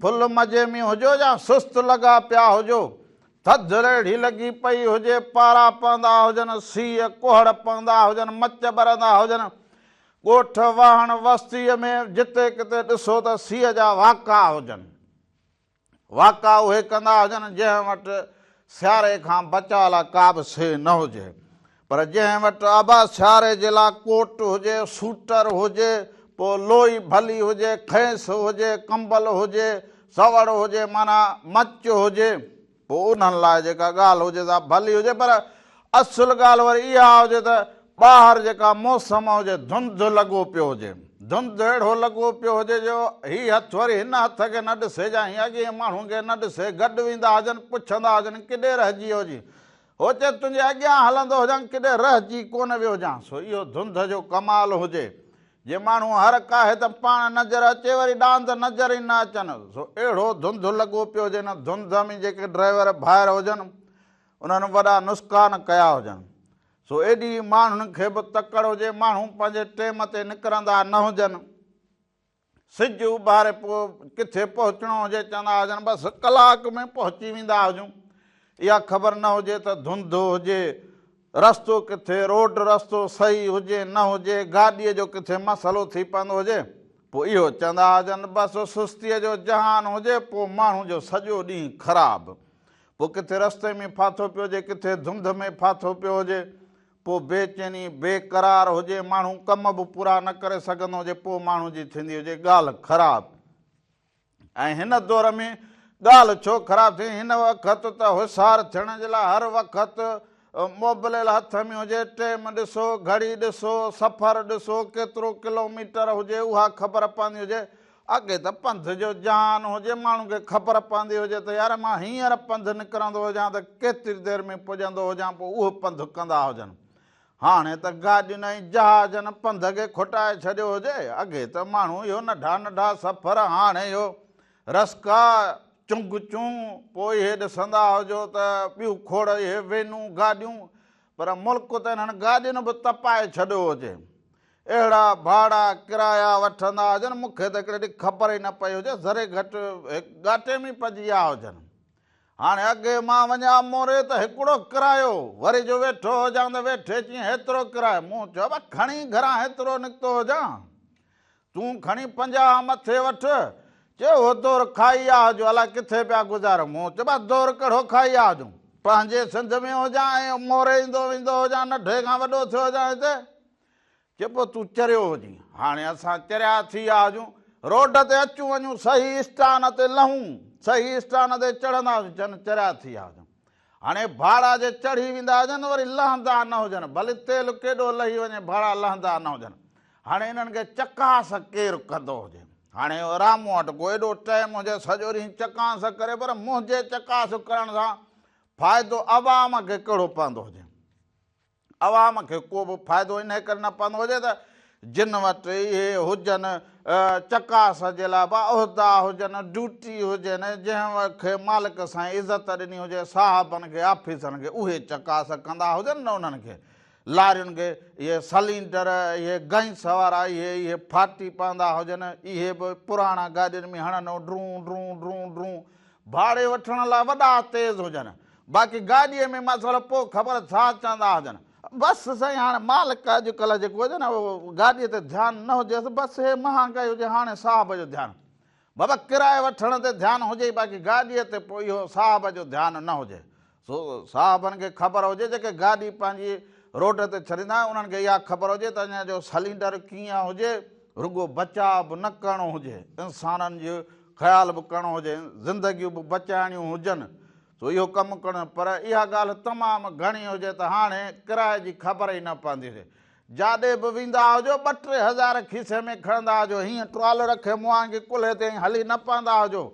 ڦل مزي ۾ هجو يا سست لڳا پيا هجو، ٿڌ ريڙهي لڳي پئي هجي، پارا پوندا هجن، سيء ڪهڙ پوندا هجن، مچ ٻرندا هجن، ڳوٺ، واهڻ، وستيء ۾ جتي ڪٿي ڏسو ته سيء جا واڪا هجن. واڪا اهي ڪندا هجن، جنهن وٽ سياري کان بچاء لاء ڪابه سيء نه هجي. پر جنهن وٽ ابا سياري جي لاء ڪوٽ هجي، سوٽر هجي، پوء لوئي ڀلي هجي، کيس هجي، ڪمبل هجي، سوڙ هجي معنيٰ مچ هجي، پوء انهن لاء جيڪا ڳالهه هجي سا ڀلي هجي پر اصل ڳالهه وري اها هجي ته ٻاهر جيڪا موسم هجي، ڌنڌ لڳو پيو هجي، ڌنڌ اهڙو لڳو پيو هجي جو هي هٿ وري هن هٿ کي نه ڏسي جا هي اڳئين ماڻهن کي نه ڏسي، گڏ ويندا هجن، پڇندا هجن ڪيڏي رهجي ويو جي؟ هو چي تنهنجي اڳيان هلندو هجان ڪيڏي رهجي ڪونه ويو هجان سو اهو ڌنڌ جو ڪمال هجي جي ماڻهو هر ڪاهي ته پاڻ نظر اچي وري ڏاند نظر ئي نه اچن سو اهڙو ڌنڌ لڳو پيو هجي ان ڌنڌ ۾ جيڪي ڊرائيور ڀائر هجن انهن وڏا نسڪان ڪيا هجن سو ايڏي ماڻهن کي به تڪڙ هجي ماڻهو پنهنجي ٽيم تي نڪرندا نه هجن. سج اڀاري پوء ڪٿي پهچڻو هجي چوندا هجن بس ڪلاڪ ۾ پهچي ويندا هجون اها خبر نه هجي ته ڌنڌ هجي رستو ڪٿي روڊ رستو صحيح هجي نه هجي گاڏي جو ڪٿي مسئلو ٿي پوندو هجي پوء اهو چوندا هجن بس سستي جو جهان هجي پوء ماڻهو جو سڄو ڏينهن خراب پوء ڪٿي رستي ۾ ڦاٿو پيو هجي ڪٿي ڌنڌ ۾ ڦاٿو پيو هجي پوء بي چيني، بي قرار هجي، ماڻهو ڪم به پورا نه ڪري سگهندو هجي، پوء ماڻهو جي ٿيندي هجي ڳالهه خراب. ۽ هن دور ۾ ڳالهه ڇو خراب ٿئي؟ هن وقت ته هوشار ٿيڻ جي لاء هر وقت موبليل هٿ ۾ هجي، ٽيم ڏسو، گهڙي ڏسو، سفر ڏسو، ڪيترو ڪلوميٽر هجي اها خبر پوندي هجي، اڳي ته پنڌ جو جان هجي، ماڻهن کي خبر پوندي هجي ته يار مان هينئر پنڌ نڪرندو هجان ته ڪيتري دير ۾ پڄندو هجان پوء اهو پنڌ ڪندا هجن. هاڻي ته گاڏين ۽ جهازن پنڌ کي کوٽائي ڇڏيو هجي. اڳي ته ماڻهو اهو ننڍا ننڍا سفر هاڻي اهو رسڪا، چنگ چون، پوء اهي ڏسندا هجو ته ٻيون کوڙ اهي وينون، گاڏيون پر ملڪ ته انهن گاڏين به تپائي ڇڏيو هجي. اهڙا ڀاڙا ڪرايا وٺندا هجن، مون کي ته هڪڙي ڏينهن خبر ئي نه پئي هجي، ذري گهٽ هڪ ڳاٽي ۾ ئي پئجي ويا هجن. هاڻي اڳي مان وڃان موري ته هڪڙو ڪرايو، وري جو ويٺو هجان ته ويٺي چين هيترو ڪرايو، مون چيو ابا کڻي گهران هيترو نڪتو هجان، تون کڻي پنجاهه مٿي وٺ، چي اهو دور کائي آ هجو، الائي ڪٿي پيا گذاريو، مون چيو ابا دور ڪهڙو کائي آ هجون، پنهنجي سنڌ ۾ هجان ۽ موري ايندو ويندو هجان، نڍي کان وڏو ٿيو هجان هتي، چي پو تون چريو هجين. هاڻي اسان چريا ٿي ويا هجون. روڊ تي اچون وڃون صحيح اسٽان تي لهون. صحيح اسٽان تي چڙهندا هجون جن چريا ٿي ويا هجون. هاڻي ڀاڙا جي چڙهي ويندا هجن وري لهندا نه هجن. ڀلي تيل ڪيڏو لهي وڃي ڀاڙا لهندا نه هجن. هاڻي انهن کي چڪاس ڪير ڪندو هجي. هاڻي رامو وٽ ڪو ايڏو ٽيم هجي سڄو ڏينهن چڪاس ڪري پر منهنجي چڪاس ڪرڻ سان فائدو عوام کي ڪهڙو پوندو هجي. عوام کي ڪو به فائدو انهيء ڪري نه پوندو هجي ته جن وٽ اهي هجن، چڪاس جي لاء به عهدا هجن، ڊيوٽي هجين، جنهن کي مالڪ سائين عزت ڏني هجي، صاحبن کي، آفيسرن کي اهي چڪاس ڪندا هجن نه انهن کي لارين کي اهي سلينڊر، اهي گئنس وارا، اهي اهي ڦاٽي پوندا هجن، اهي به پراڻا گاڏين ۾ هڻن ڊرون ڊرون ڊرون ڊرون ڀاڙي وٺڻ لاء وڏا تيز هجن باقي گاڏي ۾ مسئلو پوء خبر ڇا چوندا هجن. بس سائين هاڻي مالڪ اڄ ڪلهه جيڪو هجي نه اهو گاڏي تي ڌيان نه هجيس بس هي مهانگائي هجي هاڻي صاحب جو ڌيان بابا ڪرايو وٺڻ تي ڌيان هجي ئي باقي گاڏي تي پوء اهو صاحب جو ڌيان نه هجي سو صاحبن کي خبر هجي جيڪي گاڏي پنهنجي روڊ تي ڇڏيندا آهيون انهن کي اها خبر هجي ته اڃا جو سلينڊر ڪيئن هجي رڳو بچاء به نه ڪرڻو هجي انسانن جو خيال به ڪرڻو هجي زندگيون به بچائڻيون هجن سو اهو ڪم ڪرڻو پر اها ڳالهه تمام گهڻي هجي ته هاڻي ڪرائي جي خبر ئي نه پوندي هجي جاڏي به ويندا هجو ٻه ٽي هزار کيسي ۾ کڻندا هجو هيئن ٽرال رکي مهانگي ڪلهي تي ائين هلي نه پوندا هجو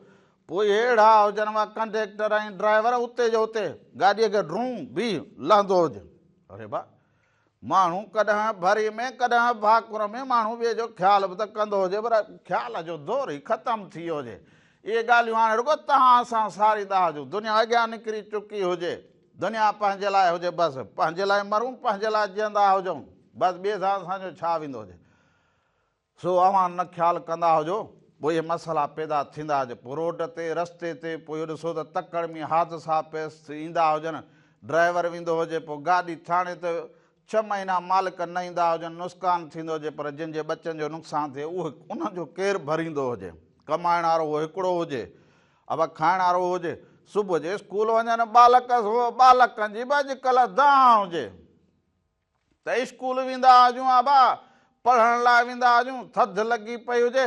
پوء اهڙا هجن وا ڪنڊيڪٽر ۽ ڊرائيور اتي جو اتي گاڏيء کي ڊرون بيهي لهندو هجن. اري با! ماڻهو ڪڏهن ڀري ۾ ڪڏهن ڀاڪر ۾ ماڻهو ٻئي جو خيال به ته ڪندو هجي پر خيال جو دور ئي ختم ٿي ويو هجي. اهي ڳالهيون هاڻي رڳو توهان سان ساريندا هجون. دنيا اڳيان نڪري چڪي هجي. دنيا پنهنجي لاء هجي بس. پنهنجي لاء مرون پنهنجي لاء جيئندا هجون. بس ٻئي سان اسان جو ڇا ويندو هجي. سو اوهان نه خيال ڪندا هجو پوء اهي مسئلا پيدا ٿيندا جو پوء روڊ تي رستي تي پوء اهو ڏسو ته تڪڙ ۾ حادثا پيس ايندا هجن ڊرائيور ويندو هجي پوء گاڏي ٿاڻي ته ڇهه مهينا مالڪ نه ايندا هجن نسڪان ٿيندو هجي پر جن جي ٻچن جو نقصان ٿئي اهو ان جو ڪير ڀريندو هجي ڪمائڻ وارو اهو هڪڙو هجي اڀا کائڻ وارو هجي صبح جي اسڪول وڃن ٻالڪ سو ٻالڪن جي به اڄڪلهه دانهن هجي. ته اسڪول ويندا هجون ابا پڙهڻ لاء ويندا هجون ٿڌ لڳي پئي هجي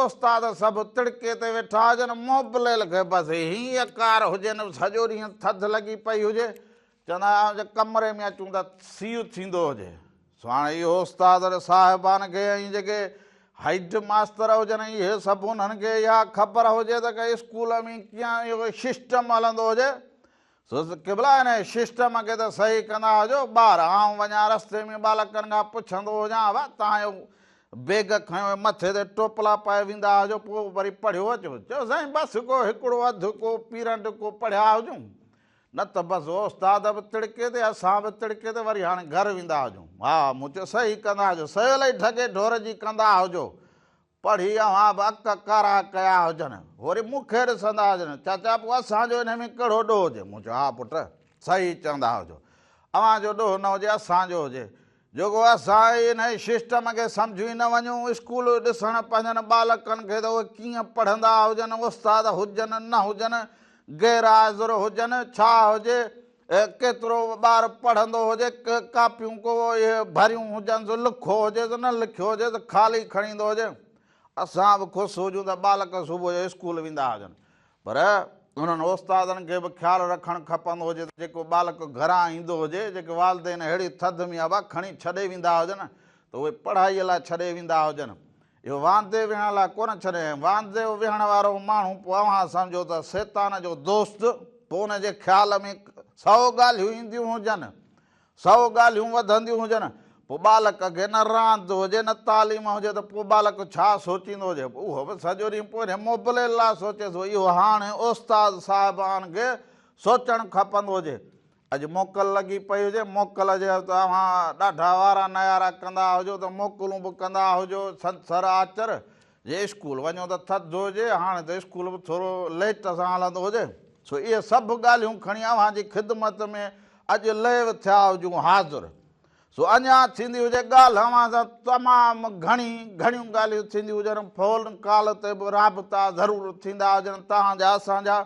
استاد سڀ تڙڪي تي ويٺا هجن موبليل کي بس هي اڪار هجي نه سڄو ڏينهن ٿڌ لڳي پئي هجي چوندا آهيون جي ڪمري ۾ اچون ته سيء ٿيندو هجي سو هاڻي اهو استاد ۽ صاحبان کي ۽ جيڪي هيڊ ماستر هجن اهي سڀ انهن کي اها خبر هجي ته اسڪول ۾ ڪيئن اهو سسٽم هلندو هجي سوز قبلا هن ششٽم کي ته صحيح ڪندا هجو ٻار آئون وڃان رستي ۾ ٻالڪن کان پڇندو هجان وا توهان اهو بيگ کنيو هي مٿي تي ٽوپلا پائي ويندا هجو پوء وري پڙهيو اچو چيو سائين بس ڪو هڪڙو اڌ ڪو پيرنڊ ڪو پڙهيا هجون نه ته بس اوستاد به تڙڪي تي اسان به تڙڪي تي وري هاڻي گهر ويندا هجون ها مون چيو صحيح ڪندا هجو سهيو لئي ڍڳي ڍور جي ڪندا هجو پڙهي اوهان به اک ڪارا ڪيا هجن، وري مون کي ڏسندا هجن، چاچا پوء اسان جو انهي ۾ ڪهڙو ڏوهه هجي؟ مون چيو، ها پٽ، صحيح چوندا هجو. اوهان جو ڏوهه نه هجي، اسان جو هجي. جيڪو اسان ئي انهي سسٽم کي سمجهون ئي نه وڃون، اسڪول ڏسڻ پنهنجن ٻالڪن کي ته اهي ڪيئن پڙهندا هجن، استاد هجن نه هجن، غيرحاضر هجن، ڇا هجي، ڪيترو به ٻار پڙهندو هجي، ڪاپيون ڪو ڀريون هجنس، لکو هجيس، نه لکيو هجيس، خالي کڻي ايندو هجي. اسان به خوش هجون ته ٻالڪ صبح جو اسڪول ويندا هجن. پر انهن استادن کي به خيال رکڻ کپندو هجي ته جيڪو ٻالڪ گهران ايندو هجي، جيڪي والدين اهڙي ٿڌ ۾ اڀا کڻي ڇڏي ويندا هجن ته اهي پڙهائيء لاء ڇڏي ويندا هجن. اهو واندي ويهڻ لاء ڪونه ڇڏيائين. واندي ويهڻ وارو ماڻهو پوء اوهان سمجهو ته شيطان جو دوست، پوء ان جي خيال ۾ سؤ ڳالهيون اينديون هجن، سؤ ڳالهيون وڌنديون هجن، پوء ٻالڪ اڳي نه راند هجي نه تعليم هجي ته پوء ٻالڪ ڇا سوچيندو هجي؟ اهو به سڄو ڏينهن پورهيت موبليل لاء سوچي ٿو. اهو هاڻي استاد صاحبان کي سوچڻ کپندو هجي. اڄ موڪل لڳي پئي هجي، موڪل جي هر توهان ڏاڍا وارا نيارا ڪندا هجو ته موڪلون به ڪندا هجو، ڇنڇر آچر جي اسڪول وڃو ته ٿڌ هجي، هاڻي ته اسڪول به ٿورو ليٽ سان هلندو هجي، سو اهي سڀ ڳالهيون کڻي اوهان جي خدمت ۾ اڄ لئيو ٿيا هجون حاضر، سو اڃا ٿيندي هجي ڳالهه اوهان سان تمام گهڻي گهڻيون ڳالهيون ٿينديون هجن، فون ڪال تي به رابطا ضرور ٿيندا هجن توهان جا اسان جا،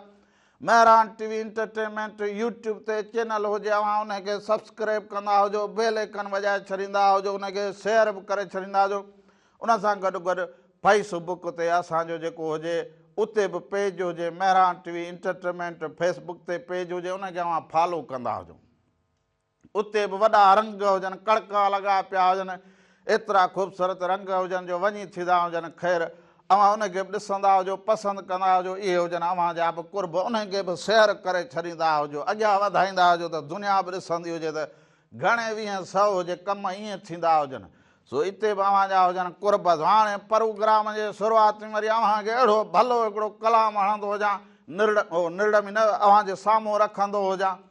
Mehran T V entertainment YouTube تي چينل هجي اوهان انهي کي سبسڪريب ڪندا هجو بيل ايڪن وڄائي ڇڏيندا هجو انهي کي شيئر به ڪري ڇڏيندا هجو ان سان گڏ گڏ فيس بڪ تي اسان جو جيڪو هجي اتي به پيج هجي Mehran T V entertainment Facebook تي پيج هجي انهي کي اوهان فالو ڪندا هجو. اتي به وڏا رنگ هجن، ڪڙڪا لڳا پيا هجن، ايترا خوبصورت رنگ هجن جو وڃي ٿيندا هجن. خير، اوهان انهن کي به ڏسندا هجو، پسند ڪندا هجو، اهي هجن اوهان جا به قرب، انهن کي به سير ڪري ڇڏيندا هجو، اڳيان وڌائيندا هجو ته دنيا به ڏسندي هجي ته گهڻي ويهين سئو هجي، ڪم ائين ٿيندا هجن. سو اتي به اوهان جا هجن قرب. سو هاڻي پروگرام جي شروعات ۾ وري اوهان کي اهڙو ڀلو هڪڙو ڪلام هڻندو هجان، نرڙ، او نرڙ ۾ نه، اوهان جي سامهون رکندو هجان.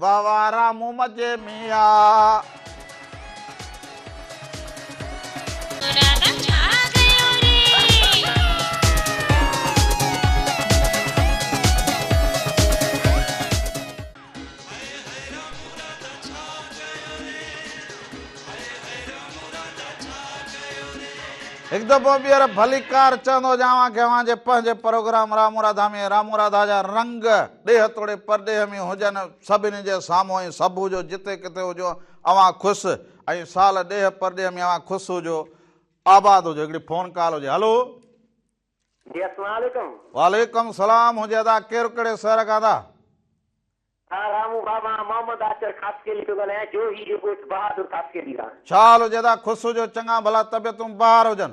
واھ واھ رامو مجي ۾ آ. هڪ دفعو ٻيهر ڀليڪار چوندو هجان اوهان کي اوهان جي پنهنجي پروگرام رامو راڌا ۾ رامو راڌا جا رنگ ڏيهه توڙي پرڏيهه ۾ هجن، سڀني جي سامهون ۽ سڀ هجو، جتي ڪٿي هجو، اوهان خوس ۽ سال ڏيهه پرڏيهه ۾ اوهان خوس هجو، آباد هجو. هڪڙي فون ڪال هجي. هلو. جي اسلام عليڪم. وعليڪم سلام هجي ادا ڪير ڪهڙي سهر کان ادا. ها رامو بابا مان محمد آچر خاصخيلي ٿو ڳالهايان جوهي جي ڳوٺ بهادر خاصخيلي کان. ڇا حال هجي ادا خوس هجو چڱا ڀلا طبيعتون بهار هجن.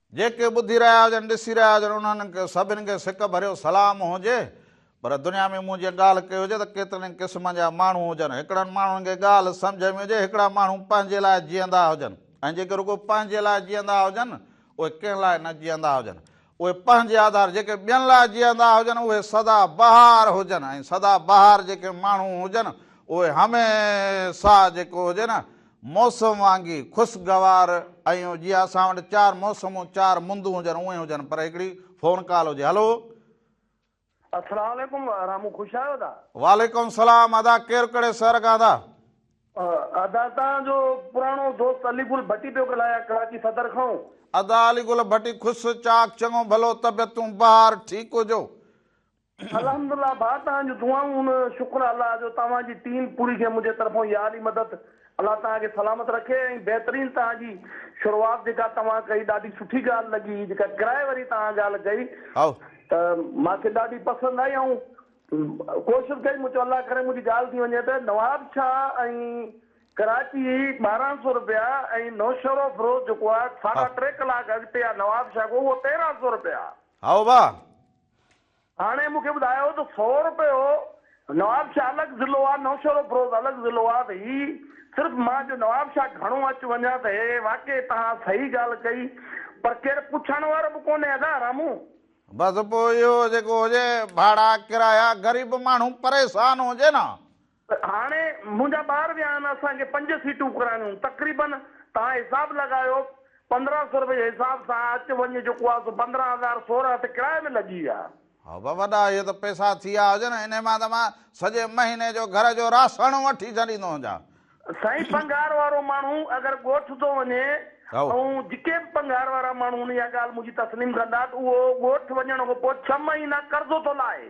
جيڪي ٻڌي رهيا هجن ڏسي رهيا هجن انهن سڀن کي سڪ ڀريو سلام هجي پر دنيا ۾ مون جيئن ڳالهه ڪئي هجي ته ڪيترن ئي قسمن جا ماڻهو هجن هڪڙن ماڻهن کي ڳالهه سمجهه ۾ هجي هڪڙا ماڻهو پنهنجي لاء جيئندا هجن ۽ جيڪي رڳو پنهنجي لاء جيئندا هجن اهي ڪنهن لاء نه جيئندا هجن اهي پنهنجي آڌار جيڪي ٻين لاء جيئندا هجن اهي سدا بهار هجن ۽ سدا بهار جيڪي ماڻهو هجن اهي هميشه جيڪو هجي نه موسم وانگي خوشگوار ۽ جيئن اسان وٽ چار موسمون چار مندون هجن اونئين هجن پر هڪڙي فون ڪال هجي هلو. اسلام عليڪم رامو خوش آهيو ادا. وعليڪم السلام ادا ڪير ڪھڙي شھر کان ادا. ادا تان جو پراڻو دوست علي گل ڀٽي پيو ڳلهايان ڪراچي صدر کان. ادا علي گل ڀٽي خوش چاڪ چڱو ڀلو طبعيتون بهار ٺيڪ هجو. الحمد الله ڀاء توهان جون دعائون شڪر الله جو توهان جي ٽيم پوري کي منهنجي طرفون يار ئي مدد الله توهان کي سلامت رکي ۽ بهترين توهان جي شروعات جيڪا توهان ڪئي ڏاڍي سٺي ڳالهه لڳي جيڪا ڪرائي واري توهان ڳالهه ڪئي ته مان کي ڏاڍي پسند آئي آئون ڪوشش ڪئي مون چيو الله ڪري منهنجي ڳالهه ٿي وڃي ته نواب شاهه ۽ ڪراچي ٻارهن سو روپيا ۽ نوشهرو فروز جيڪو آهي ساڍا ٽي ڪلاڪ اڳتي آهي نواب شاهه کان اهو تيرهن سو روپيا هائو ڀاء هاڻي مون کي ٻڌايو ته سؤ روپيو نواب شاهه الڳ ضلعو آ نوشهروفروز الڳ ضلعو آ ته هي صرف مان جو نواب شاهه گهڻو اچ وڃان ته هي واقعي توهان صحيح ڳالهه ڪئي پر ڪير پڇڻ وارو به ڪونهي ادا رامو. بس پوء اهو جيڪو هجي ڀاڙا ڪرايا غريب ماڻهو پريشان هجي نه هاڻي منهنجا ٻار ويا آهن اسان کي پنج سيٽون ڪرائڻيون آهن تقريبن توهان حساب لڳايو پندرهن سئو روپيه جي حساب سان اچ وڃ جيڪو آهي سو پندرهن هزار سورهن هت ڪرايي ۾ لڳي ويا. هاء به وڏا اهي ته پئسا ٿي ويا هجن انهي مان ته مان سڄي مهيني جو گهر جو راسڻ وٺي ڇڏيندو هجان. سائين پنگهار وارو ماڻهو اگر ڳوٺ ٿو وڃي ۽ جيڪي به پنگهار وارا ماڻهو آهن اها ڳالهه منهنجي تسليم ڪندا ته اهو ڳوٺ وڃڻ کان پوء ڇهه مهينا قرضو ٿو لاهي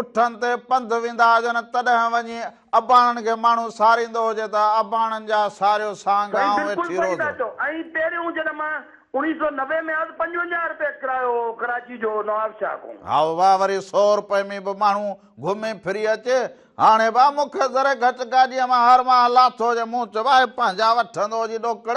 اٺن تي پنڌ ويندا هجن تڏهن وڃي اباڻن کي ماڻهو ساريندو هجي ته اباڻن جا ساريو سانگ سائين آئون بلڪل ويٺي صحيح ٿا روزو. چئو ۽ پهريون جڏهن مان اوڻيهه سئو نوي ۾ هئس پنجونجاهه رپيه ڪرايو هو ڪراچي جو نوابشاهه کان. هائو واهه وري سئو رپئي ۾ به ماڻهو گهمي ڦري اچي هاڻي به مون کي ذري گهٽ گاڏيء مان هر ماهه لاٿو هجي مون چئبو آهي پنهنجا وٺندو هجي ڏوڪڙ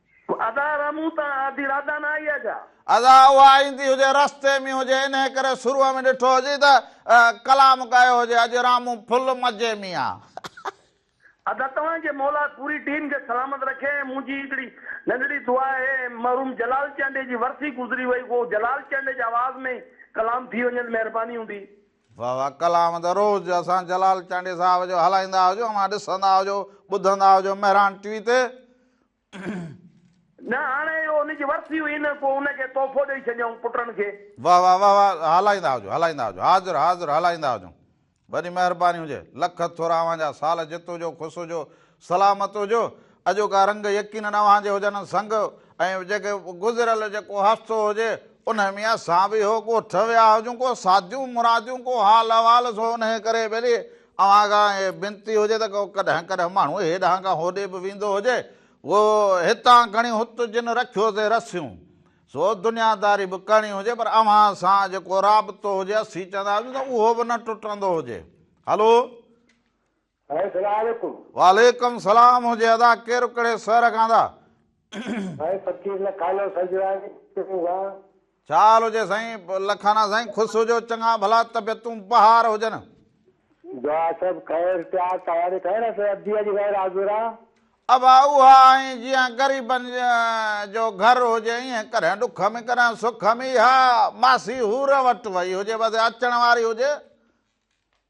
ادا ادا مون تان آڌي رادان آئي آ جا. ادا اها ايندي هجي رستي ۾ هجي انهي ڪري شروع ۾ ڏٺو هجي ته ڪلام ڳايو هجي اڄ رامون ڦل مزي ۾ آ. ادا توهان کي مولا پوري ٽيم کي سلامت رکي ۽ منهنجي هڪڙي ننڍڙي دعا آهي مرحوم جلال چانڊيي جي ورسي گذري وئي ڪو جلال چانڊيي جي آواز ۾ ئي ڪلام ٿي وڃي ته مهرباني هوندي. واھ واھ ڪلام ته روز اسان جلال چانڊيي صاحب جو هلائيندا هجو اوهان ڏسندا هجو ٻڌندا هجو مهراڻ ٽي وي تي. نه هاڻي اهو ان جي ورسي هئي نه پوء ان کي تحفو ڏئي ڇڏيائون پٽن کي. واھ واھ واھ واھ هلائيندا هجو هلائيندا هجو حاضر حاضر هلائيندا هجون وڏي مهرباني هجي لک ٿورا اوهان جا سال جتو جو خوس هجو. سلامت هجو اڄوڪا رنگ يقينن اوهان جي هجن سنگ ۽ جيڪي گذريل جيڪو حادثو هجي انهي ۾ اسان به هو ڳوٺ ويا هجون ڪو ساڌيون مراديون ڪو حال احوال سو انهي ڪري ڀلي اوهان کان هي بنتي هجي ته ڪو ڪڏهن ڪڏهن ماڻهو هي ڏانهن کان هوڏي به ويندو هجي اهو هتان کڻي هت جن رکيو سي رسيون سو دنيا داري به ڪرڻي هجي پر اوهان سان جيڪو رابطو هجي اسين چوندا هجون ته اهو به نه ٽٽندو هجي هلو سائين سلام عليڪم. وعليڪم سلام هجي ادا ڪير ڪھڙي سهر کان ادا. سائين فقير لکانو سنجراڻي ٽيون کان. ڇا حال هجي سائين لکانا سائين خوس هجو چڱا ڀلا طبيعتون بهار هجن. دعا سڀ خير تيار تياري خير اسين ابدي جي غير حاضر آ. ابا اها ائين جيئن غريبن جو گهر هجي ائين ڪڏهن ڏک م ڪڏهن سک م اها ماسي حور وٽ وئي هجي بس اچڻ واري هجي.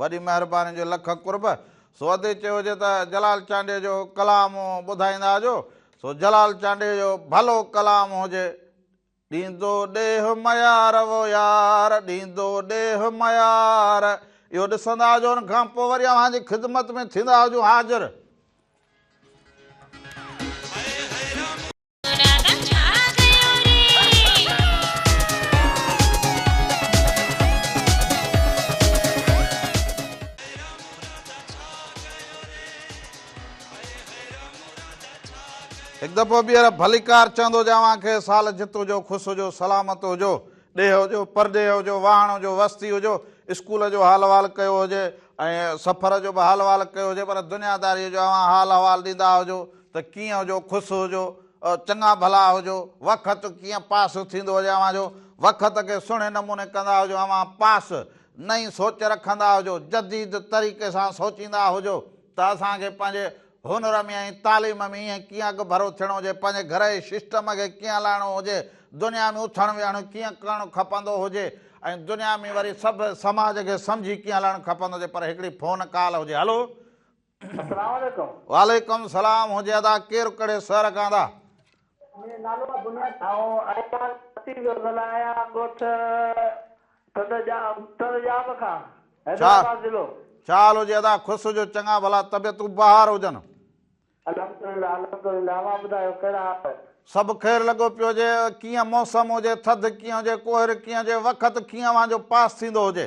وڏي مهرباني جو لک قرب. سو ادي چيو هجي ته جلال چانڊيي جو ڪلام ٻڌائيندا اجو. سو جلال چانڊيي جو ڀلو ڪلام هجي. ڏيندو ڏيھ ميار وو يار ڏيندو ڏيھ ميار اهو ڏسندا اجو ان کان پوء وري اوهان جي خدمت ۾ ٿيندا هجون حاضر. هڪ دفعو ٻيهر ڀليڪار چوندو جي اوهان کي سال جت هجو، خوش هجو، سلامت هجو، ڏيهه هجو، پرڏيهه هجو، واهڻ هجو، وستي هجو، اسڪول جو حال احوال ڪيو هجي ۽ سفر جو به حال احوال ڪيو هجي پر دنيا داريء جو اوهان حال احوال ڏيندا هجو، ته ڪيئن هجو خوس هجو چڱا ڀلا هجو وخت ڪيئن پاس ٿيندو هجي اوهان جو وخت کي سهڻي نموني ڪندا هجو اوهان پاس نئين سوچ رکندا هجو جديد طريقي سان سوچيندا هجو ته اسان کي پنهنجي هنر ۾ ۽ تعليم ۾ ايئن ڪيئن اڳڀرو ٿيڻو هجي پنهنجي گهر جي سسٽم کي ڪيئن هلائڻو هجي دنيا ۾ اٿڻ ويهڻ ڪيئن ڪرڻ کپندو هجي ۽ دنيا ۾ وري سڀ سماج کي سمجهي ڪيئن هلائڻ کپندو هجي پر هڪڙي فون ڪال هجي هلو اسلام عليڪم. وعليڪم سلام هجي ادا ڪير ڪھڙي سهر کان ادا. منهنجو نالو آ بنياد ٿانو ايان ڪراچي جو زلا ايان ڳوٺ تند جا تند جام کان حيدرآباد ضلعو. چال هجي ادا خوس هجو چڱا ڀلا طبيعتون بهار هجن. الحمد لله الحمد لله اوهان ٻڌايو ڪهڙا حال آهن. سڀ خير لڳو پيو هجي ڪيئن موسم هجي ٿڌ ڪيئن هجي ڪوهر ڪيئن هجي وقت ڪيئن اوهان جو پاس ٿيندو هجي.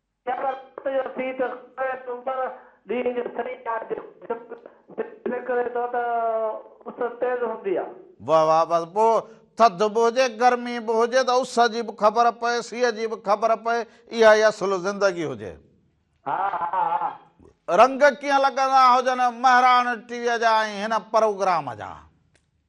شب رات جو سيء ته خدايء تون پر، ڏينهن جو سيء آهي جيڪو جهڪ، سج نڪري ٿو ته اس تيز هوندي آهي. واه واه بس پوء ٿڌ به هجي گرمي به هجي ته اس جي به خبر پئي سيء جي به خبر پئي اها ئي اصل زندگي هجي. ها ها ها. رنگ ڪيئن لڳندا هجن مهراڻ ٽي وي جا ۽ هن پروگرام جا.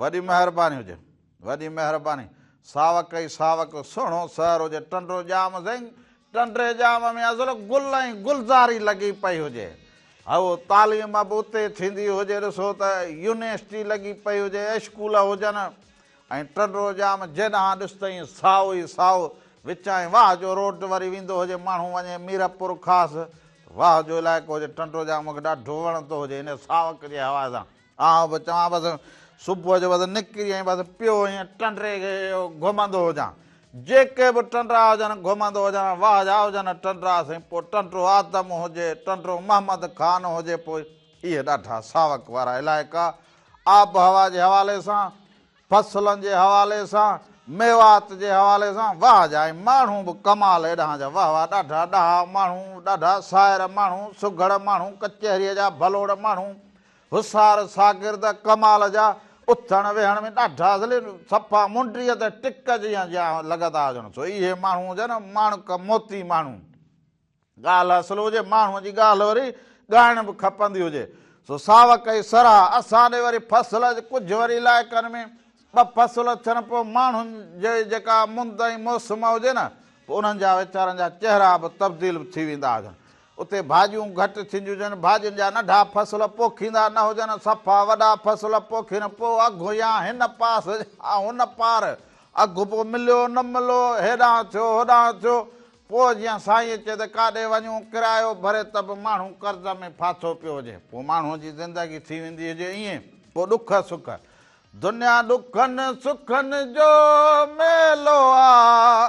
وڏي مهرباني هجي وڏي مهرباني. ساوڪ اي ساوڪ سهڻو سحر هجي ٽنڊو ڄام سنگ ٽنڊي ڄام ۾ ازل گل ۽ گلزاري لڳي پئي هجي هئو تعليم به اتي ٿيندي هجي ڏسو ته يونيسٽي لڳي پئي هجي اسڪول هجن ۽ ٽنڊو ڄام جيڏانهن ڏس ته ائين سائو ئي سائو وچائين واهه جو روڊ وري ويندو هجي ماڻهو وڃي ميرپور خاص واهه جو علائقو هجي ٽنڊو ڄام مونکي ڏاڍو وڻندو هجي ان ساوڪ جي حوالي سان آئون به چوان بس صبح جو بس نڪري ائين بس پيو ائين ٽنڊري کي گهمندو هجان. جيڪي به ٽنڊرا هجن گهمندو هجان. واهه جا هجن ٽنڊرا سائين پوء ٽنڊرو آدم هجي، ٽنڊرو محمد خان هجي پوء اهي ڏاڍا ساوڪ وارا علائقا آبهوا جي حوالي سان، فصلن جي حوالي سان، ميوات جي حوالي سان واهه جا ۽ ماڻهو به ڪمال ايڏانهن جا واهه واهه ڏاڍا ڏاها ماڻهو، ڏاڍا سائر ماڻهو، سگهڙ ماڻهو، ڪچهريء جا ڀلوڙ ماڻهو، هوشيار شاگرد ڪمال جا اٿڻ ويهڻ ۾ ڏاڍا ذليل، صفا منڊيء تي ٽڪ جيان جيان لڳندا هجن، سو اهي ماڻهو هجن ماڻڪ موتي ماڻهو. ڳالهه اصل هجي، ماڻهوء جي ڳالهه وري ڳائڻ به کپندي هجي، سو ساوڪ ۽ سرها. اسان ڏي وري فصل اڄ ڪجهه وري علائقن ۾ ٻه فصل ٿين، پوء ماڻهن جي جيڪا مند ۽ موسم هجي نه، پوء انهن جا ويچارن جا چهرا به تبديل ٿي ويندا هجن. اتي ڀاڄيون گهٽ ٿينديونهجن، ڀاڄين جا ننڍا فصل پوکيندا نه هجن، صفا وڏا فصل پوکين، پوء اگهه يا هن پاس يا هن پار اگهه پوء مليو نه ملو، هيڏانهن ٿيو هوڏانهن ٿيو، پوء جيئن سائينء چئي ته ڪاڏي وڃون، ڪرايو ڀري ته به ماڻهو قرض ۾ ڦاٿو پيو هجي، پوء ماڻهوء جي زندگي ٿي ويندي هجي ائين، پوء ڏک سک، دنيا ڏکن سکن جو ميلو آ.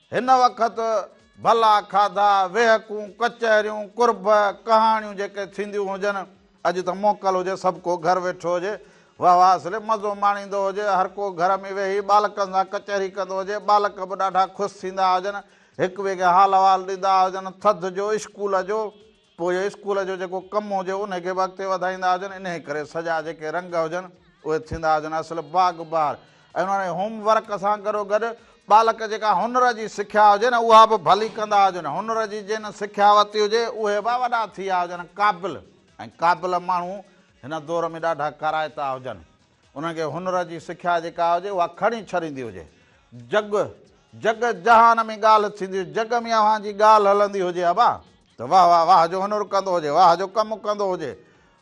هن وقت ڀلا کاڌا، ويهڪون، ڪچهريون، قرب، ڪهاڻيون جيڪي ٿينديون هجن، اڄ ته موڪل هجي سڀ ڪو گهر ويٺو هجي، واه واه سلي مزو ماڻيندو هجي، هر ڪو گهر ۾ ويهي ٻالڪن سان ڪچهري ڪندو هجي، ٻالڪ به ڏاڍا خوش ٿيندا هجن، هڪ ٻئي کي حال احوال ڏيندا هجن، ٿڌ جو، اسڪول جو. پوء اسڪول جو جيڪو ڪم هجي انهي کي به اڳتي وڌائيندا هجن انهي ڪري سڄا جيڪي رنگ هجن اهي ٿيندا هجن اصل باغ بهار ۽ انهي هوم ورڪ سان گڏو گڏ ٻالڪ جيڪا هنر جي سکيا هجي نه اها به ڀلي ڪندا هجن هنر جي جن سکيا ورتي هجي اهي به وڏا ٿيا هجن قابل ۽ قابل ماڻهو هن دور ۾ ڏاڍا ڪارائتا هجن انهن کي هنر جي سکيا جيڪا هجي اها کڻي ڇڏيندي هجي جڳ جڳ جهان ۾ ڳالهه ٿيندي جڳ ۾ اوهان جي ڳالهه هلندي هجي ابا ته واه واه واه جو هنر ڪندو هجي واه جو ڪم ڪندو هجي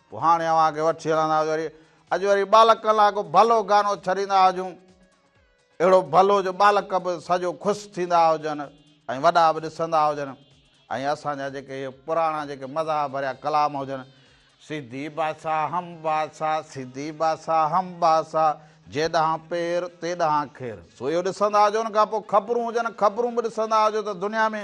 پوء هاڻي اوهان کي وٺي هلندا هجون وري اڄ وري ٻالڪن لاء ڪو ڀلو گانو ڇڏيندا هجون اهڙو ڀلو جو ٻالڪ به سڄو خوش ٿيندا هجن ۽ وڏا به ڏسندا هجن ۽ اسان جا جيڪي اهي پراڻا جيڪي مزاح ڀريا ڪلام هجن سيدي باسا هم باسا سيدي باسا هم باسا جي ڏانهن پير تي ڏانهن کير سو اهو ڏسندا هجو ان کان پوء خبرون هجن خبرون به ڏسندا هجو ته دنيا ۾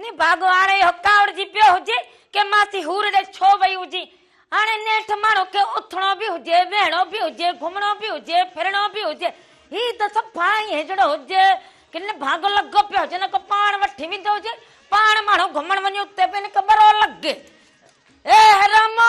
ني ڀاڳو هاڻ اهو ڪاوڙجي پيو هجي ڪي ماسي حور ڏي ڇو وئي هجي. هاڻي نيٺ ماڻهو کي اٿڻو به هجي، ويهڻو به هجي، گهمڻو به هجي، ڦرڻو به هجي، هي ته صفا ائين هجڻو هجي ڪي ني ڀاڳو لڳو پيو هجي نه ڪو پاڻ وٺي ويندو هجي. پاڻ ماڻهو گهمڻ وڃي اتي به نڪ ٻرو لڳي. اي حرامو!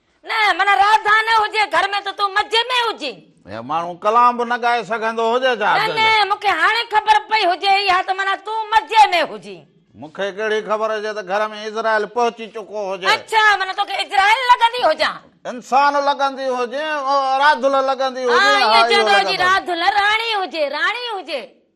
نه معنيٰ راڌا نه هجي گهر ۾ ته تون مزي ۾ هجين. هي ماڻهو ڪلام به نه ڳائي سگهندو هجي ڇا؟ نه نه مون کي هاڻي خبر پئي هجي اها ته معنيٰ تون مزي ۾ هجين. مون کي ڪهڙي خبر هجي ته گهر ۾ اسرائيل پهچي چڪو هجي. اڇا معنيٰ توکي اسرائيل لڳندي هجان. انسان لڳندي هجين. راڌل لڳندي هجين. ها ائين چوندو هجين راڌل راڻي هجي راڻي هجي.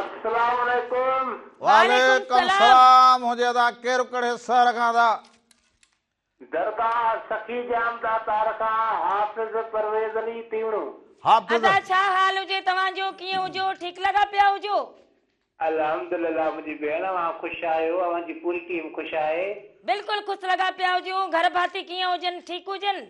السلام عليڪم. وعليڪم السلام هونجي ادا ڪير ڪهڙي سهر کان ادا. درگاهه سخي ڄام دا تار کان حافظ پرويز علي تيوڻو. حافظ. ادا ڇا حال هجي توهان جو ڪيئن هجو ٺيڪ لڳا پيا هجو. الحمدلله منهنجي ڀيڻ اوهان خوش آهيو اوهان جي پوري ٽيم خوش آهي. بلڪل خوس لڳا پيا هجو گهر ڀاتي ڪيئن هجن ٺيڪ هجن.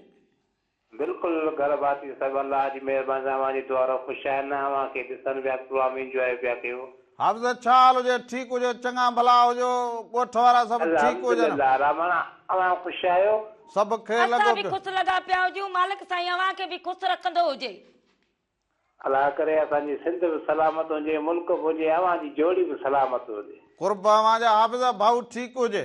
بلڪل گهر ڀاتي صاحب الله جي مهرباني سان اوهان جي دعا رو خوش آهيان نه اوهان کي ڏسن پيا پروگرام انجواء پيا ڪيو. حافظ ڇا حال هجي ٺيڪ هجو چڱا ڀلا هجو ڳوٺ وارا سڀ ٺيڪ هجن. الحمدلله رحمان اوهان خوش آهيو. سڀ کي اسان لڳو به پيو. خوش لڳا پيا هجون مالڪ سائين اوهان کي به خوش رکندو هجي. الله ڪري اسان جي سنڌ به سلامت هجي ملڪ به هجي اوهان جي جوڙي به سلامت هجي. قرب اوهان جا حافظ ڀائو ٺيڪ هجي.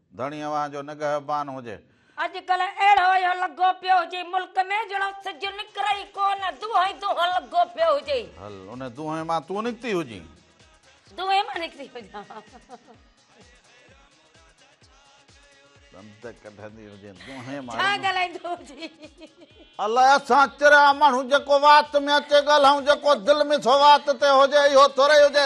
ڌڻي اوهان جو نگهبان هجي. اڄڪلهه اهڙو اهو لڳو پيو هجي ملڪ ۾ جهڙو سج نڪري ئي ڪو نه دونهين دونهين لڳو پيو هجي. هل ان دونهين مان تون نڪتي هجين. دونهين مان نڪتي هجان. ڏند ڪڍندي هجين دونهين مان. ڇا ڳالهائيندو هجين. الاء اسان ڪهڙا ماڻهو جيڪو وات ۾ اچي ڳالهائون جيڪو دل ۾ ٿو وات تي هجي اهو ٿورئي هجي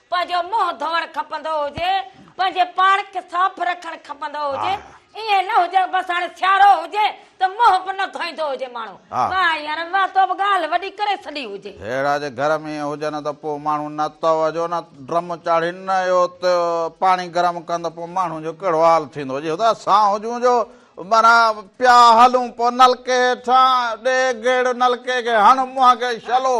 پنهنجو منهن ڌوئڻ کپندو هجي، پنهنجي پاڻ کي صاف رکڻ کپندو هجي، ائين نه هجي بس هاڻي سيارو هجي ته منهن به نه ڌوئيندو هجي ماڻهو. واه يار واه تو به ڳالهه وڏي ڪري ڇڏي هجي. هيڙا جي گهر ۾ ائين هجن ته پوء ماڻهو نه تئو جو نه ڊرم چاڙهين نه اهو تئو پاڻي گرم ڪن ته پوء ماڻهن جو ڪهڙو حال ٿيندو جي هتان اسان هجون جو معنيٰ پيا هلون پوء نلڪي هيٺان ڏي گيڙ نلڪي کي هڻ منهن کي شلو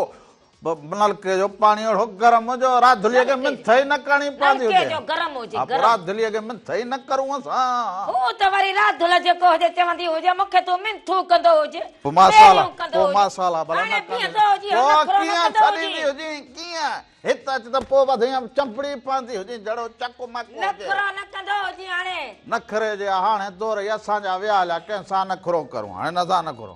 به نلڪي جو پاڻي اهڙو گرم هو جو راڌليء کي منٿ ئي نه ڪرڻي پوندي هجي. نلڪي جو گرم هجي، ها، پوء گرم. راڌليء کي منٿ ئي نه ڪرون اسان. هو ته وري راڌل جيڪو هجي چوندي هجي، مون کي تون منٿون ڪندو هج، پوء مان سال، پيريون ڪندو پوء هج. مان سال ها ڀلا نه هاڻي ڪندي بيهندو هجين، پوء هنڌ ڦرو نه ڪيئن ڪندو ڇڏيندي هجين. هجين، ڪيئن؟ هت اچ ته پوء وڌيم چنبڙي پوندي هجين جهڙو چڪ مڪ هجي. نخرو نه ڪندو هجين هاڻي. نخري جي هاڻي دور ئي اسان جا ويا هليا، ڪنهن سان نخرو ڪرون؟ هنن سان نخرو.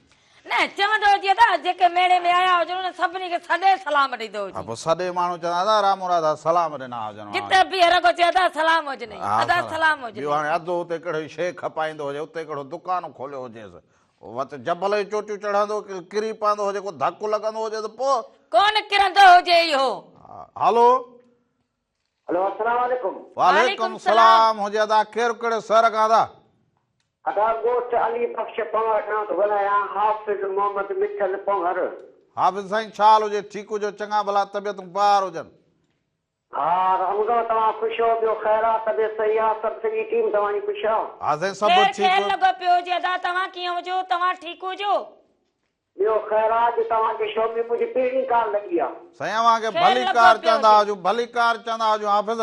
نه چوندو هجي ته جيڪي ميڙي ۾ آيا هجن انهن سڀني کي سڏي سلام ڏيندو هجي. ها پوء سڏي ماڻهو چوندا ادا رام مراد ها سلام ڏنا هجن ها. جتي بيهي رڳو چئي ادا سلام هجنئي ادا سلام هجنئي. ٻيو هاڻي اڌ اتي ڪهڙي شيء کپائيندو هجي اتي ڪهڙو دڪان کوليو هجيس وت جبل جون چوٽيون چڙهندو ڪري پوندو هجي ڪو ڌڪ لڳندو هجيس پوء. ڪونه ڪرندو هجي اهو. هلو هلو السلام عليڪم. وعليڪم السلام هجي ادا ڪير ڪهڙي سهر کان ادا. ادا ڳوٺ علي بخش پنهور کان ٿو ڳالهايان حافظ محمد مٺل پنهور. حافظ سائين ڇا حال هجي ٺيڪ هجو چڱا ڀلا طبيعتون بهار هجن. ها رمضان توهان خوش هو ٻيو خير آ طبيعت صحيح آ سڀ سڄي ٽيم توهان جي خوش آ. ها سائين سڀ ٺيڪ. خير خير لڳو پيو هجي ادا توهان ڪيئن هجو توهان ٺيڪ هجو. ٻيو خير آ جو توهان کي شو ۾ منهنجي پهرين ڪار لڳي آ. سائين اوهان کي خير ڀلي لڳو ڪار پيو چوندا هجي. هجون ڀلي ڪار چوندا هجون حافظ.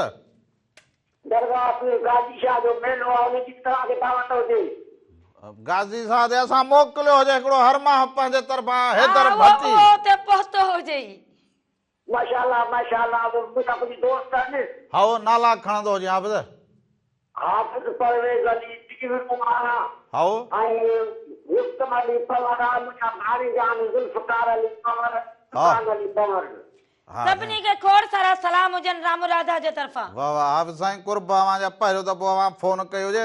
درگاهه پير غازي شاهه جو ميلو آ ان جي به توهان کي دعوت هجي. غازي شاهه تي اسان موڪليو هجي هڪڙو هر ماهه پنهنجي طرفان حيدر ڀٽي. اهو اهو اتي پهتو هجي ئي. ماشاء الله ماشاء الله مون کي ڪا ڪجهه دوست آهن. هائو، نالا کڻندو هجين حافظ. حافظ پرويز علي ڊيوڊ ماڻا. هائو. ۽ رستم علي پنور آهن منهنجا ڀاڻيجا آهن ذوالفقار علي پنور سلطان علي پنور. سڀني کي کوڙ سارا سلام هجن رامو راڌا جي طرفان. واھ واھ حافظ سائين قرب اوھان جا پهريون دفعو اوھان فون ڪئي هجي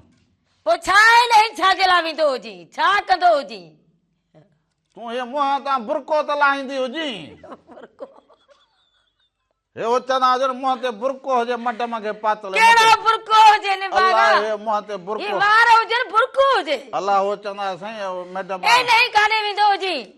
پوء ڇا آهي نه هي ڇا جي لاء ويندو هجين؟ ڇا ڪندو هجين؟ تون هي منهن تان برقعو ته لاهيندي هجين؟ برقعو؟ هي اوچتا هجن منهن تي برقعو هجي مڊم کي پاتل هي ڪهڙو برقعو هجي ني باغا؟ الله هي منهن تي برقعو هي وار هجن برقعو هجي؟ الله هو چوندا سائين مڊم اي نه هي ڪانه ويندو هجين؟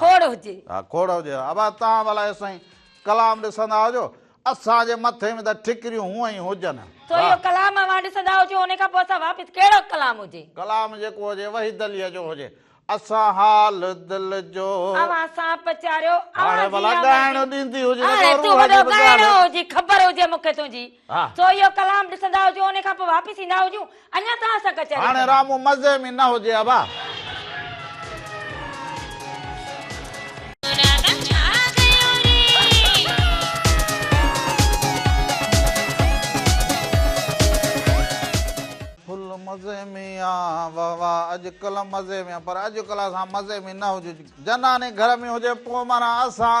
کوڙ هجي. ها کوڙ هجي ها. ابا توهان به الائي سائين ڪلام ڏسندا هجو. اسان جي مٿي ۾ ته ٺڪريون هونئن ئي هجن. سو اهو ڪلام اوهان ڏسندا هجو ان کان پوء اسان واپس ڪهڙو به ڪلام هجي. ڪلام جيڪو هجي وحي دليء جو هجي. اسان حال دل جو. اوهان سان پچاريو. اوهان جي آمرزي. هاڻي ڀلا ڳائڻو ڏيندي هجي. هاڻي تون وڏو ڳائڻو هجي خبر هجي مون کي تنهنجي. سو اهو ڪلام ڏسندا هجون انهي کان پوء واپس ايندا هجون اڃا توهان سان ڪچهري هاڻي رامو مزي ۾ نه هجي ابا. ڦل مزي ۾ آ واه واه اڄ ڪلھ مزي ۾ آ پر اڄ ڪلھ اسان مزي ۾ نه هجج جناني گهر ۾ هجي پوء معنيٰ اسان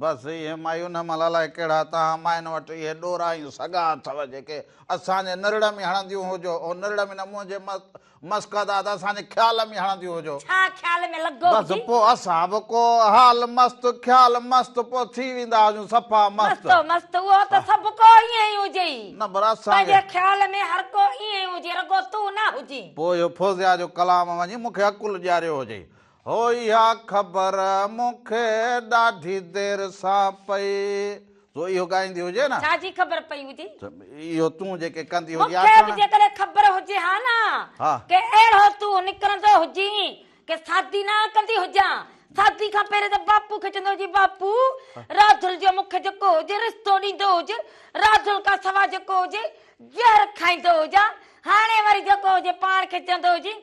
بس اهي مايون هم الاء ڪهڙا تان ماين وٽ اهي ڏورا ۽ سڳا اٿو جيڪي اسان جي نرڙ ۾ هڻنديون هجو او نرڙ ۾ نه منهنجي مسڪاداد اسان جي خيال ۾ هڻنديون هجو. ڇا خيال ۾ لڳو هجي. بس پو اسان به ڪو حال مست خيال مست پو ٿي ويندا هجون صفا مست. مست مست اهو ته سڀ ڪو ائين ئي هجئي. نه پر اسان کي. پنهنجي خيال ۾ هر ڪو ائين ئي هجي رڳو تون نه هجين. پو اهو فوزيا جو ڪلام وڃي مون کي عقل ڏياريو هجئي. هو اها خبر مون کي ڏاڍي دير سان پئي سو اهو ڳائيندي هجي نه. ڇا جي خبر پئي هجي؟ اهو تون جيڪي ڪندي هجي آ. مون کي به جيڪڏهن خبر هجي ها نه ڪي اهڙو تون نڪرندو هجين ڪي سادي نه ڪندي هجان سادي کان پهرين ته باپو کي چوندو هجين باپو راڌل جو مون کي جيڪو هجي رستو ڏيندو هجي راڌل کان سوا جيڪو هجي زهر کائيندو هجان هاڻي وري جيڪو هجي پاڻ کي چوندو هجين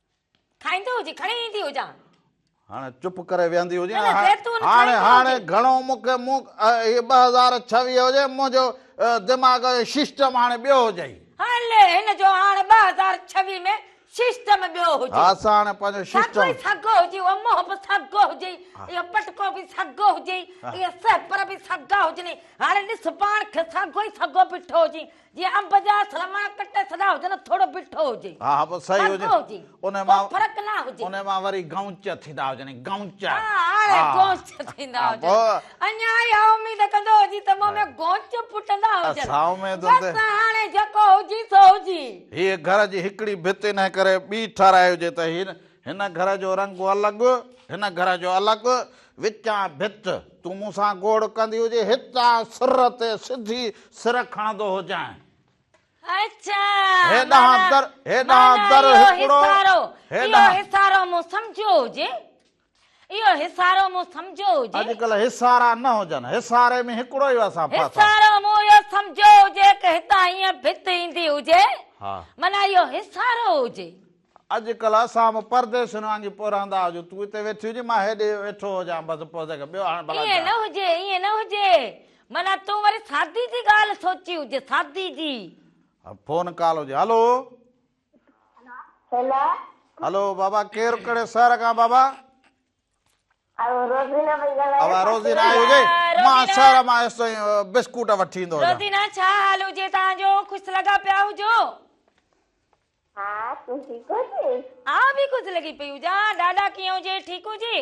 کائيندو هجي کڻي ايندي هجان. هاڻي چپ ڪري ويهندي هجي نه. هاڻي هاڻي گهڻو مون کي مون هي ٻه هزار ڇويهه هجي منهنجو دماغ جو ششٽم هاڻي ٻيو هجئي. هلي هن جو هاڻي ٻه هزار ڇويهه ۾ ششٽم ٻيو هجئي. ها سا هاڻي پنهنجو ششٽم. ساڳو ئي ساڳو هجئي اهو منهن به ساڳو هجئي اهو پٽڪو به ساڳو هجئي اهي سهپر به ساڳا هجنئي هاڻي ڏس پاڻ کي ساڳو ئي ساڳو بيٺو هجئي جي انب جا سلما ڪٽي سڏا هجن ٿوڙو بٺو هجي ها ها بس صحيح هجي هجي ان مان ڪو فرق نه هجي ان مان وري گونچ ٿيندا هجن گونچ ها هاڻي گونچ ٿيندا هجن اڃا اها اميد ڪندو هجي ته مون ۾ گونچ ڦٽندا هجن اسا اميد بس هاڻي جيڪو هجي سو هجي هي گهر جي هڪڙي ڀت انهي ڪري ٻي ٺاراهي هجي ته هن هن گهر جو رنگ الڳ، هن گهر جو الڳ، وچان ڀت تون مون سان گوڙ ڪندي هجي، هتان سر تي سڌي سر کڻندو هجانء. اڇا! هيڏانهن در، هيڏانهن در هڪڙو، هيڏانهن. اهو هسارو مون سمجهيو هجي، اهو هسارو مون سمجهيو هجي. اڄڪلهه هسارا نه هجن، هساري ۾ هڪڙو ئي وسان ڦاسان. هسارو مون اهو سمجهيو هجي ته هتان هيئن ڀت ايندي هجي، معنيٰ اهو هسارو هجي. اڄ ڪلهه اسان به پرديسين وانگي پورهندا هجون، تون اتي ويٺي هجين، مان هيڏي ويٺو هجان، بس پوء تنهن کان ٻيو هاڻ ڀلا ائين ڇا؟ نه هجي، ائين نه هجي، معنيٰ تون وري سادي جي ڳالهه سوچي هجي، سادي جي. فون ڪال هجي، هلو! هيلا! هلو بابا، ڪير ڪهڙي شهر کان بابا؟ آئون روزينا پئي ڳالهايان. اها روزينا آئي هجي، روزينا! مان شهر مان ايس تائين بسڪوٽ وٺي ايندو هجان. روزينا! ڇا حال هجي توهان جو، خوش لڳا پيا هجو؟ ها تون ٺيڪ هجين. ها به خوش لڳي پئي هجان. ڏاڏا ڪيئن هجي ٺيڪ هجي.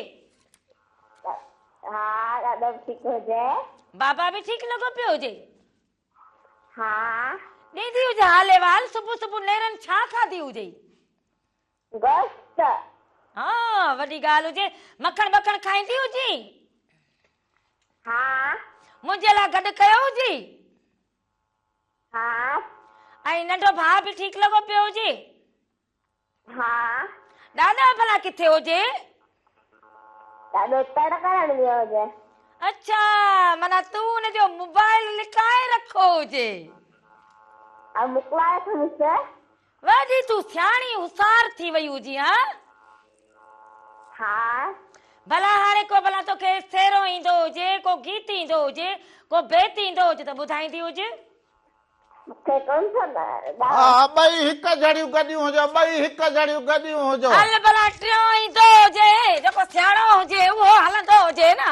ها ڏاڏا به ٺيڪ هجي. بابا به ٺيڪ لڳو پيو هجي. ها. ڏيندي هجي حال احوال. صبح صبح نيرن ڇا کاڌي هجي. گوشت. ها وڏي ڳالهه هجي. مکڻ ٻکڻ کائيندي هجين. ها. منهنجي لاء گڏ ڪيو هجي. ها ۽ ننڍو ڀاء به ٺيڪ لڳو پيو هجي ها ڏاڏو ڀلا ڪٿي هجي ڏاڏو تڙ ڪرڻ ويو هجي اڇا منا تون ان جو موبائل لڪائي رکو هجي ۽ مڪلائي کڻيس ويندي تون سياڻي هوسار ٿي وئي هجين ها؟ ها. ڀلا هاڻي ڪو ڀلا توکي سيرو ايندو هجي، ڪو گيت ايندو هجي، ڪو بيت ايندو هجي ته ٻڌائيندي هج. مون کي ڪونه ٿو ڏانء. ها ٻئي هڪ جھڙيون گڏيون هجو، ٻئي هڪ جھڙيون گڏيون هجو. هل ڀلا ٽيون ايندو هجي، جيڪو سياڻو هجي اهو هلندو هجي نه.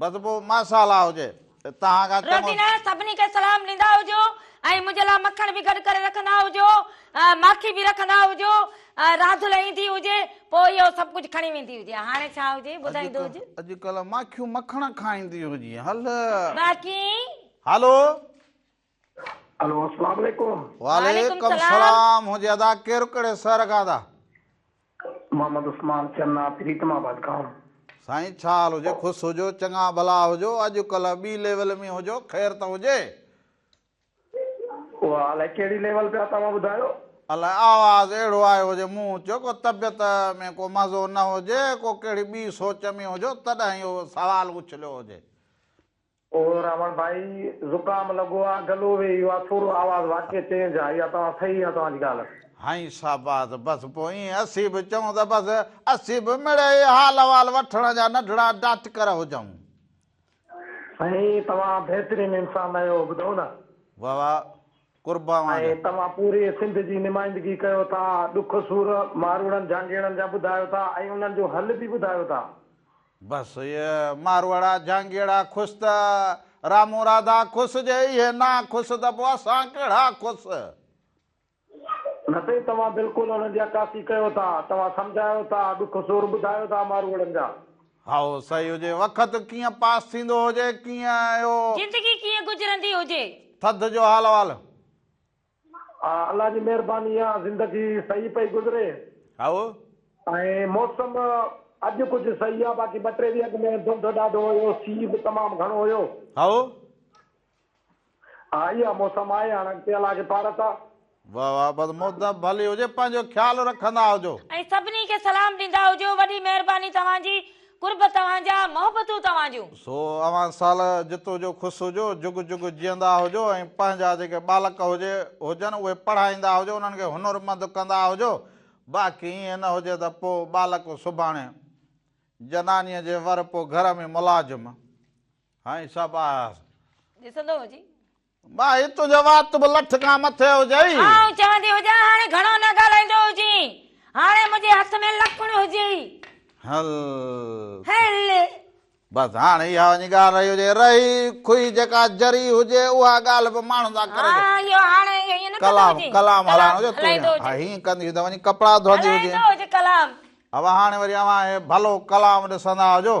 بس پوء ماشاءالله هجي ته توهان کان چڱو. روٽي لاء سڀني کي سلام ڏيندا هجو ۽ منهنجي لاء مکڻ به گڏ ڪري رکندا هجو، ماکي به رکندا هجو، راڌل ايندي هجي پوء اهو سڀ ڪجهه کڻي ويندي هجي. هاڻي ڇا هجي ٻڌائيندو هج. اڄڪلهه ماکيون مکڻ کائيندي هجي. هل. باقي. هلو. الو اسلام عليڪم وعليڪم السلام هجي ادا ڪير ڪڙي سر کان ادا محمد عثمان چنا پريتم آباد کان سائين ڇا حال هجي خوش هجو چڱا ڀلا هجو اڄ ڪلهه ٻي ليول ۾ هجو خير ته هجي اها الائي ڪهڙي ليول پيا توهان ٻڌايو الائي آواز اهڙو آيو هجي مون چيو ڪو طبيعت ۾ ڪو مزو نه هجي ڪو ڪهڙي ٻي سوچ ۾ هجو تڏهن اهو سوال اڇليو هجي او راوڻ ڀائي! زڪام لڳو آ، گلو ويهي ويو آ، ٿورو آواز واڪي چينج آ، اها توهان صحيح آ توهان جي ڳالهه. هائين شاباس بس پوء ائين اسين به چئون ته بس اسين به مڙئي حال احوال وٺڻ جا ننڍڙا ڊاٽڪر هجون. سائين توهان بهترين انسان آهيو ٻڌو نه. واھ واھ قرب اوهان جا. ۽ توهان پوري سنڌ جي نمائندگي ڪيو ٿا، ڏک سور ماروئڙن جهانگيئڙن جا ٻڌايو ٿا ۽ انهن جو حل به ٻڌايو ٿا. بس اهي ماروئڙا جهانگيئڙا کس ته رامون راڌا کس جي اهي نا کس ته پوء اسان ڪهڙا کس. نه سائين توهان بلڪل انهن جي عڪاسي ڪيو ٿا توهان سمجهايو ٿا ڏک سور ٻڌايو ٿا ماروئڙن جا. هائو سهي هجي وکت ڪيئن پاس ٿيندو هجي ڪيئن اهو. زندگي ڪيئن گذرندي هجي. ٿڌ جو حال احوال. الله جي مهرباني آ زندگي صحيح پئي گذري هائو. ۽ موسم اڄ ڪجهه صحيح آ باقي ٻه ٽي ڏينهن اڳ ۾ ڌنڌ ڏاڍو هيو سي به تمام گهڻو هيو. هائو. ها اها موسم آهي هاڻ اڳتي الله کي پارت آ. واھ واھ بس موسم ڀلي هجي پنهنجو خيال رکندا هجو. ۽ سڀني کي سلام ڏيندا هجو وڏي مهرباني توهان جي. قرب توهان جا، محبتون توهان جون. سو اوهان سال جتو جو خوس هجو، جگ جگ جيئندا هجو ۽ پنهنجا جيڪي ٻالڪ هجي هجن اهي پڙهائيندا هجو، انهن کي هنرمند ڪندا هجو، باقي ائين نه هجي ته پوء ٻالڪ سڀاڻي جنانيء جي ور پوء گهر ۾ ملازم هائين سڀ آهياس. ڏسندو هجي. ڀائي تنهنجو وات به لٺ کان مٿي هجئي. آئون چوندي هجان هاڻي گهڻو نه ڳالهائيندو هجين. هاڻي منهنجي هٿ ۾ لڪڻ هجئي. هل. هل. بس هاڻي اها وڃي ڳالهه رهي هجئي. رهي کهي جيڪا جري هجي اها ڳالهه به ماڻهن سان ڪري. ها اهو هاڻي اهو ائين نه ڪندو هجين. ڪلام هلائڻو هجي تون ها هيئن ڪندي هجين ته وڃي ڪپڙا ڌوئندي هجين. هلائيندو هجين ڪلام. اوهان هاڻي وري اوهان اهي ڀلو ڪلام ڏسندا هجو.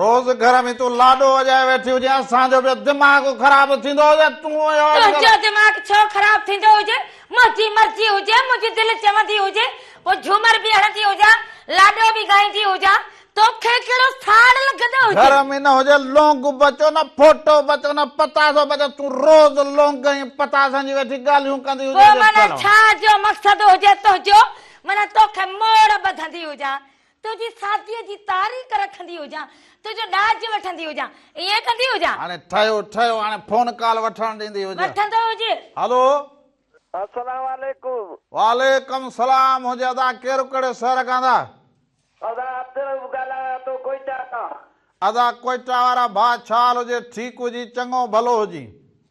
روز گهر ۾ تون لاڏو وڄائي ويٺي هجين اسان جو به دماغ خراب ٿيندو هجي تون اهو اڄ ڪلهه. تنهنجو دماغ ڇو خراب ٿيندو هجي منهنجي مرضي هجي منهنجي دل چوندي هجي پوء جهومر به هڻندي هجان لاڏو به ڳائيندي هجان توکي ڪهڙو ٿاڙ لڳندو هجي. گهر ۾ نه هجي لونگ بچو نه ڦوٽو بچو نه پتاسو بچو تون روز لونگ ۽ پتاسن جي ويٺي ڳالهيون ڪندي هجين پوء معنيٰ ڇا جو مقصد هجي تنهنجو معنيٰ توکي موڙ ٻڌندي هجان تنهنجي سادگيء جي تعريق رکندي هجان، تنهنجو ڏاج وٺندي هجان، ائين ڪندي هجان. هاڻي ٺهيو ٺهيو، هاڻي فون ڪال وٺڻ ڏيندي هجان. وٺندو هجيس. هلو. السلام عليڪم. وعليڪم السلام هجي ادا ڪير ڪهڙي شهر کان ادا. ادا عبدالرؤف ڳالهايان ٿو ڪوئيٽا کان. ادا ڪوئيٽا وارا ڀاء ڇا حال هجي ٺيڪ هجين چڱو ڀلو هجين.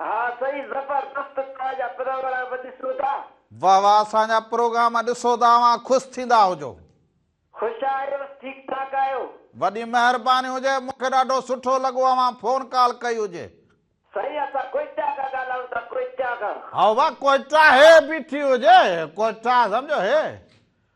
ها سائين زبردست توهان جا پروگرام ڏسون ٿا. واه واه اسان جا پروگرام ڏسو ته اوهان خوش ٿيندا هجو. خوش آهيون ٺيڪ ٺاڪ آهيون. وڏي مهرباني هجي مون کي ڏاڍو سٺو لڳو اوهان فون ڪال ڪئي هجي. سائين اسان ڪوئيٽا کان ڳالهائون ٿا ڪوئيٽا کان. هاء واه ڪوئيٽا هي بيٺي هجي ڪوئيٽا سمجهو هي.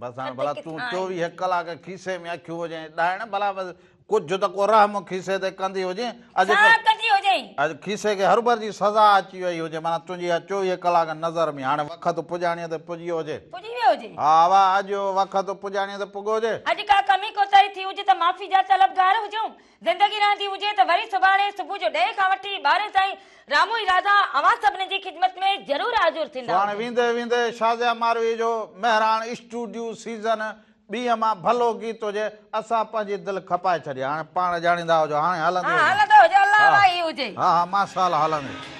بس هاڻي ڀلا تون چوويهه ڪلاڪ کيسي ۾ اکيون هجين ڏائڻ ڀلا بس ڪجهه ته ڪو رحم کيسي تي ڪندي هجين اڄ ڪندي هجين اڄ کيسي کي هربر جي سزا اچي وئي هجي مانا تنهنجي اها چوويهه ڪلاڪ نظر ۾ هاڻي وقت پڄاڻيء تي پڄي ويو هجي پڄي ويو هجي ها واهه اڄ وقت پڄاڻيء تي پڳو هجي اڄ ڪا ڪمي ڪوتاهي ٿي هجي ته معافي جا طلبگار هجون زندگي رهندي هجي ته وري سڀاڻي صبح جو ڏهين کان وٺي ٻارهين تائين رامو ۽ رازا اوهان سڀني جي خدمت ۾ ضرور حاضر ٿيندا. سڀاڻي ويندي ويندي شازيا ماروي جو مهراڻ اسٽوڊيو سيزن ٻيء مان ڀلو گيت هجي اسان پنهنجي دل کپائي ڇڏي هاڻي پاڻ ڄاڻيندا هجو هاڻي هلندي هجي. هلندي هجي الله الله هي هجي. ها ها ماشاءالله هلندي.